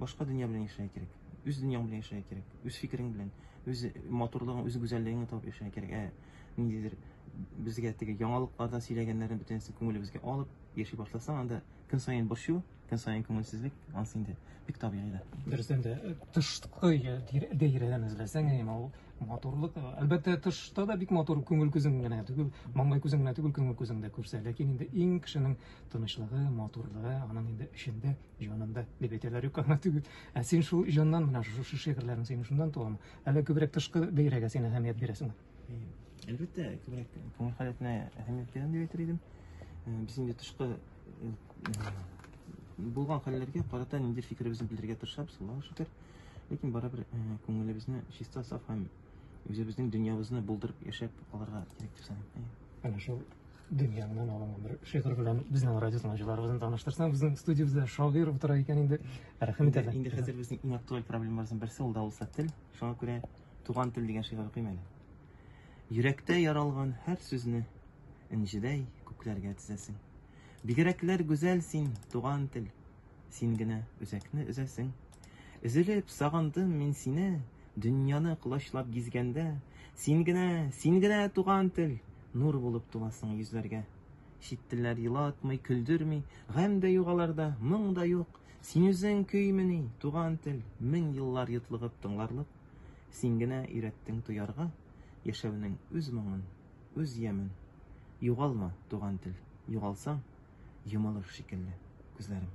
Башка дөнья белән яшәргә кирәк. Үз дөньяң белән яшәргә кирәк. Үз фикерең белән, үз матурлыгың, үз гүзәллегеңне табып яшәргә кирәк. Ә ниндидер безгә теге яңалыкларда сөйләгәннәрен бөтенесе күңелебезгә алып яши башласаң, анда көн саен борчу, көн саен күңелсезлек, ансы инде бик табигый да. Дөрестән дә тышкы даирәдән эзләсәң, әмма ул матурлык, әлбәттә, тышта да бик матур күңел күзең генә түгел, маңгай күзең генә түгел, күңел күзең дә күрсә, ләкин инде иң кешенең тынычлыгы, матурлыгы аның инде эчендә Җанымда дип әйтәләр юк аңа түгел. Ә син шул җаннан менә шушы шигырьләрең синең шуннан туамы? Әллә күбрәк тышкы бәйрәгә син әһәмият бирәсеңме? Әлбәттә, күбрәк күңел халәтенә әһәмият бирәм дип әйтер идем. Без инде тышкы булган хәлләргә карата ниндидер фикеребезне белдерергә тырышабыз, Аллаһу шөкер. Ләкин барыбер күңелебезне чиста, саф һәм үзебезнең дөньябызны булдырып яшәп алырга кирәк дип саныйм. Әнә шул дөньяңнан алынган бер шигырь белән безнең радио тыңлаучыларыбызны таныштырсаң безнең студиябездә шагыйрь утыра икән инде рәхмәт әле инде хәзер безнең иң актуаль проблемабызның берсе ул да булса тел шуңа күрә туган тел дигән шигырь укыйм әле йөрәктә яралган һәр сүзне энҗедәй күкләргә тезәсең бигрәкләр гүзәл син туган тел Син генә үзәкне өзәсең. Өзелеп сагындым мин сине, Дөньяны колачлап гизгәндә. Син генә, син генә, туган тел, Нур булып туласың йөзләргә. Чит телләр елатмый, көлдерми, Гамь дә юк аларда, моң да юк. Син үзең көймени, туган тел, Мең еллар йотлыгып тыңларлык. Син генә өйрәттең тоярга, Яшәүнең үз моңын. Үз ямен югалма, туган тел, Югалсаң, йомылыр шикелле күзләрем.